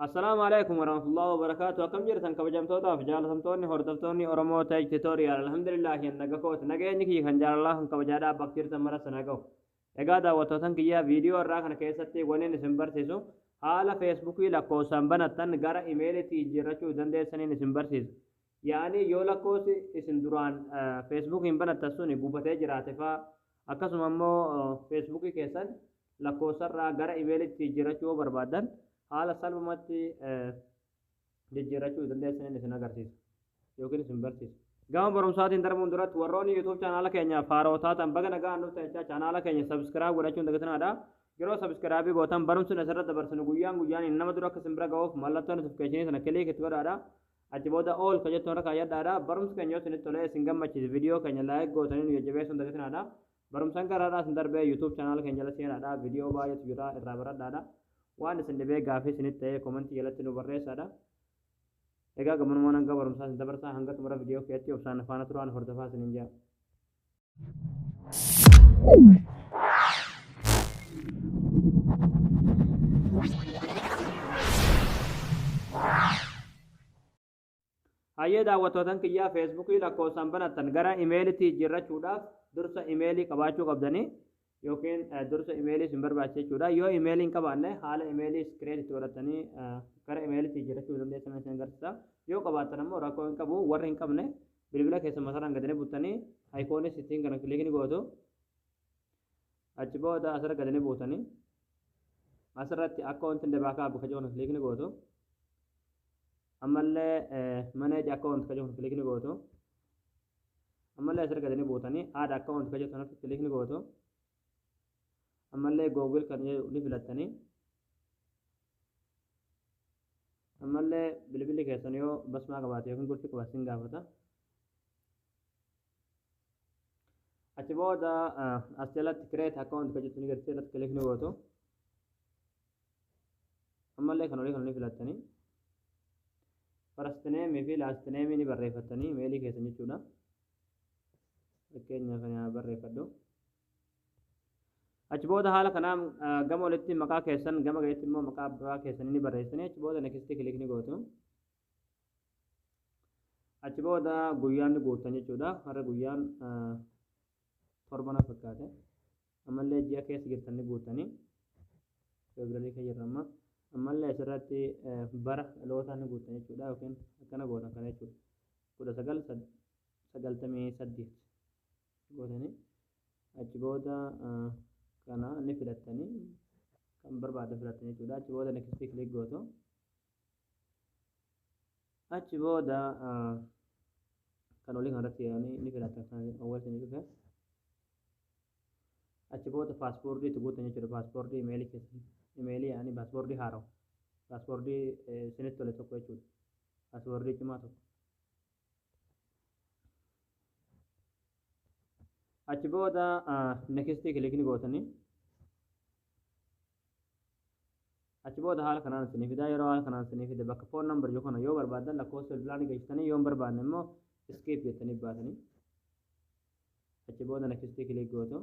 Assalaamu alaikum warahmatullahi wabarakaatu akkam jirtan kabajamtootaaf jaalatamtoonni hordoftoonni Oromoo Tej Tutorial alhamdulillah hin naga kooti nageenyi kiyya kan jaalalaa kan kabajaadhaa bakka jirtan mara sana gahu egaa daawwattootan kiyyaa viidiyoo irraa kana keessatti waniin isin barsiisu haala feesbuukii lakkoofsaan banattan gara imeelitti jijjiirrachuu dandeessaniin isin barsiisa Yaani yoo lakkoosi isin duraan feesbuukiin banattan suni gubatee jiraate faa akkasuma immoo feesbuukii keessan lakkoofsarraa gara imeelitti jijjiirrachuu yoo barbaaddan haala salphumatti jijjiirrachuu dandeessaniin isin agarsiisa yookiin isin barsiisa. Gama barumsaatiin darbuun duratti warroonni YouTube chaanaala keenyaaf haaroo taatan baga nagaan dhuftan jechaa chaanaala keenya subscribe godhachuun dagatinaadha. Yeroo subscribe gootan barumsi asirratti dabarsinu guyyaan guyyaan nama dura akka isin bira ga'uuf mallattoo notification sana click itti godhaadha. Achi booda all ka jettu irra kaayyadhaadha. Barumsi keenya yoo isinitti tolee isin gammachiise viidiyoo keenya like gootanii nu jajjabeessuun dagatinaadha. Barumsan gara har'aa isin darbee YouTube channel keenya jala seenaadha. Viidiyoo baay'eetu jira irraa baradhaadha. Waan isin dhibee gaafii isinitti ta'ee komentii jalatti nu barreessaadha. Egaa gammanumaan hanga barumsaa isin dabarsaa hanga xumura viidiyoo keetti obsaan faana turaan hordofaa isiniin jaa. Hayyee daawwattootan kiyyaa feesbuukii lakkoofsaan banattan gara imeelitti jijjiirrachuudhaaf dursa imeelii qabaachuu qabdanii yookiin dursa imeelii isin barbaachisa jechuudha. Yoo imeelii hin qabaanne haala imeelii create itti godhattanii gara imeeliitti jijjiirrachuu dandeessan isin agarsiisa. Yoo qabaattan ammoo rakkoo hin qabu. Warri hin qabne bilbila keessan masaaraan gadanii buttanii ayikoonii sittiin kana kiliikni gootu. Achi booda asirra gadanii buutanii asirratti akkaawuntiin dabaa kaabu kajoo kana kiliikni gootu. Ammallee maneeji akkaawunti kajoo kana kiliikni gootu. ammallee asirra gadanii buutanii add account kan jettu kanatti click ni gootu ammallee google kan jedhu ni filattanii ammallee bilbilli keessan yoo basmaa qabaate yookiin gurfi qabaate sin gaafata achi booda as jalatti create account kan jettu ni gartee irratti click ni gootu ammallee kan olii kana ni filattanii farastineemii fi laastineemii ni barreeffattanii imeelii keessan jechuudha fakkeenyaaf kana barreeffadhu achi booda haala kanaa gama olitti maqaa keessan gama gaditti immoo maqaa abbaa keessanii ni barreessanii achi booda nekistii kilik ni gootu achi booda guyyaan ni guuttan jechuudha har'a guyyaan torba na fakkaate Ammallee ji'a keessa jirtan ni guuttani. February keessa jirra amma. Ammallee asirratti bara dhalootaa ni guuttan jechuudha yookiin akkana gootan kana jechuudha. kudha sagal sagaltamii saddeet gootanii achi booda kana ni filattanii kan barbaadan filattan jechuudha. Achi booda next click gootu. achi booda kan olii kanarratti yaa'anii ni filatan kan awwaalcha ni dhufe achi booda paaspoortii itti guutan jechuudha paaspoortii imeelii keessan imeelii yaa'anii paaspoortii haarawa paaspoortii isinitti tole tokko jechuudha paaspoortii cimaa tokko achi booda nekistii kilikni gootanii achi booda haala kanaan isinii fidaa yeroo haala kanaan isinii fide bakka foon nambar jiru kana yoo barbaadan lakkoofsa bilbilaanii galchitanii yoo hin barbaanne immoo iskiip jettanii baatanii achi booda nakistii kiliik gootu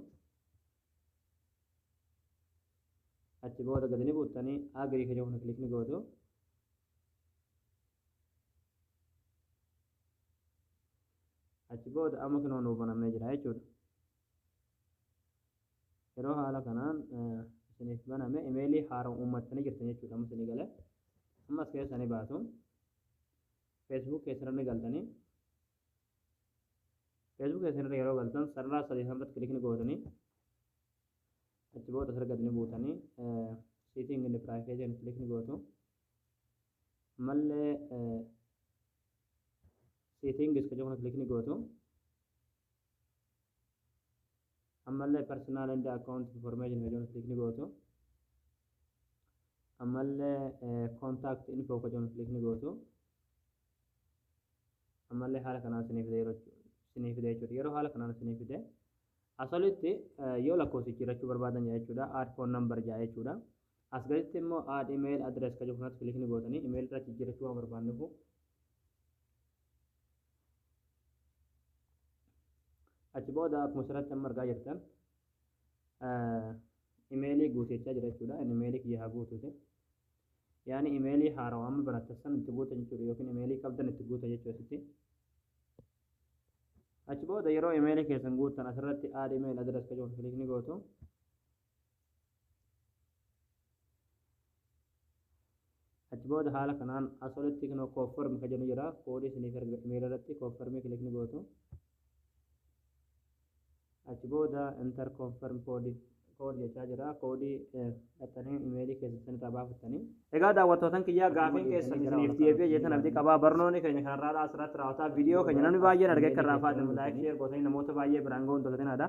achi booda gadi ni buuttanii agirii kan jedhu kiliik ni gootu achi booda amma kinoo nuu banamee jira jechuudha Yeroo haala kanaan isiniif baname imeelii haaraan uummattanii jirtan jechuudha amma isinii galee. Amma as keessa ni baatu. Facebook keessan ni galtanii. Facebook keessan irra yeroo galtan sarara sadii sanarratti kilik ni gootanii. Achi booda sarara gadi ni buutanii siitiin inni piraayiveetiin kilik ni gootu. Ammallee siitiin giska jiru kilik ni gootu. ammallee personal and account information ka jedhu click ni gootu ammallee contact info ka jedhu click ni gootu ammallee haala kanaan sinii fide yeroo sinii fide jechuudha yeroo haala kanaan sinii fide asolitti yoo lakkoofsi jiraachuu barbaadan jaa jechuudha add phone number jaa jechuudha as gaditti immoo add email address ka jedhu kanatti click ni gootanii email irratti jiraachuu waan barbaannuuf achi booda akkuma asirratti amma argaa jirtan imeelii guuteechaa jira jechuudha inni imeelii kiyya haa guutute yaani imeelii haarawa amma barattan san itti guuta jechuudha yookiin imeelii qabdan itti guuta jechuu asitti achi booda yeroo imeelii keessan guuttan asirratti aad imeelii adirees kan jiru kilikni gootu achi booda haala kanaan as olitti kan koofformi kan jedhu jira koodii isiniif erga imeela irratti koofformii kilik ni gootu achi booda inter koofform koodii koodii jechaa jira koodii dhattanii imeelii keessatti irraa baafattanii egaa daawwattootan kiyyaa gaafiin keessan isiniif deebi'ee jeetan abdii qabaa barnoonni keenya kanarraa asirratti raawwataa viidiyoo keenya namni baay'een argee kan raafaate laayik sheer gootanii namoota baay'ee biraan ga'uun dagatinaa dha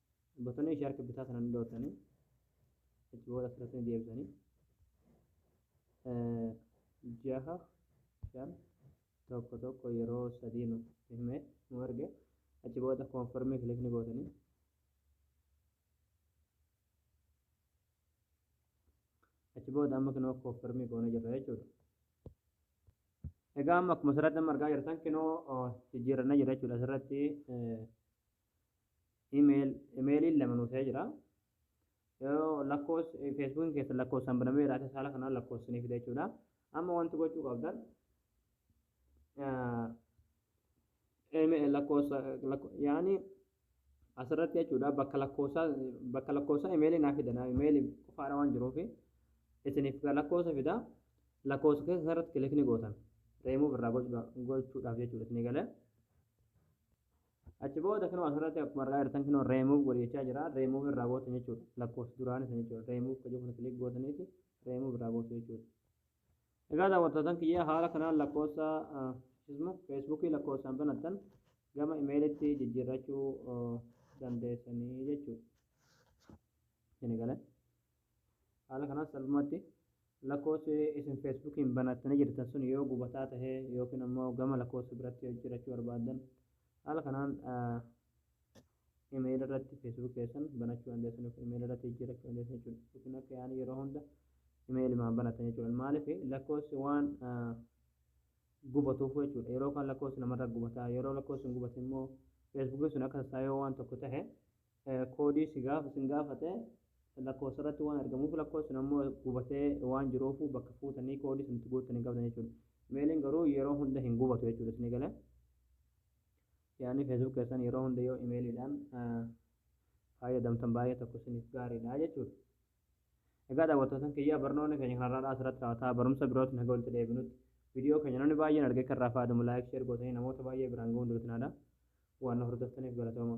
Botanii ishee harka bitaa sana ni dhootanii achi booda asirratti ni deebisanii jaha shan tokko tokko yeroo sadii nu hime nu erge achi booda koonfirmii kilik ni gootanii achi booda amma kinoo koonfirmii goone jirra jechuudha. Egaa amma akkuma asirratti amma argaa jirtan kinoo jijjiirannee jira jechuudha asirratti email emailiin lama nuu ta'ee jira yoo lakkoos feesbuukiin keessan lakkoofsaan banamee jira isa saala kanaan lakkoofsanii fida jechuudha amma wanti gochuu qabdan email lakkoofsa yaani asirratti jechuudha bakka lakkoofsaa bakka lakkoofsaa emailii naa fida naa emailii qofaadha waan jiruufi isiniif lakkoofsa fida lakkoofsa keessa irratti kilikni gootan reemuuf irraa gochuudhaaf jechuudha isinii galee Achi booda kinoo asirratti akkuma argaa jirtan kinoo remove godhi jechaa jira. Remove irraa gootan jechuudha. Lakkoofsi duraanii sana jechuudha. Remove kan jedhu click gootaniiti remove irraa gootu jechuudha. Egaa daawwattootan kiyya haala kanaan lakkoofsa feesbuukii lakkoofsaan banattan gama imeelitti jijjiirrachuu dandeessanii jechuudha. Isin galee. Haala kanaan salphumatti lakkoofsi isin Feesbuukiin banattanii jirtan sun yoo gubataa tahe yookiin ammoo gama lakkoofsa biratti jijjiirachuu barbaaddan haala kanaan email irratti Facebook keessan banachuu dandeessan yookiin email irratti jijjiirachuu dandeessan jechuudha. Yookiin akka yaani yeroo hunda email maan banatan jechuudha. Maaliif lakkoofsi waan gubatuuf jechuudha. Yeroo kan lakkoofsi namarra gubataa yeroo lakkoofsi hin gubate immoo Feesbuukiin sun akka sassaayoo waan tokko tahe koodii si gaafa sin gaafate lakkoofsa irratti waan argamuuf lakkoofsi sun ammoo gubatee waan jiruuf bakka fuutanii koodii sun itti guuttan hin qabdan jechuudha. Imeeliin garuu yeroo hunda hin gubatu jechuudha isin gale. Yaanni feesbuuk keessan yeroo hunda yoo imeeliidhaan fayyadamtan baay'ee tokko isiniif gaariidha jechuudha. Egaa daawwattootan kiyyaa barnoonni keenya kan har'aadhaa asirratti raawwataa barumsa birootti naga walitti deebinutti viidiyoo keenya namni baay'een argee kan irraa fayyadamu laayik sheer gootanii namoota baay'ee biraan ga'uun duratinaadha waan nu hordoftaniif galatooma.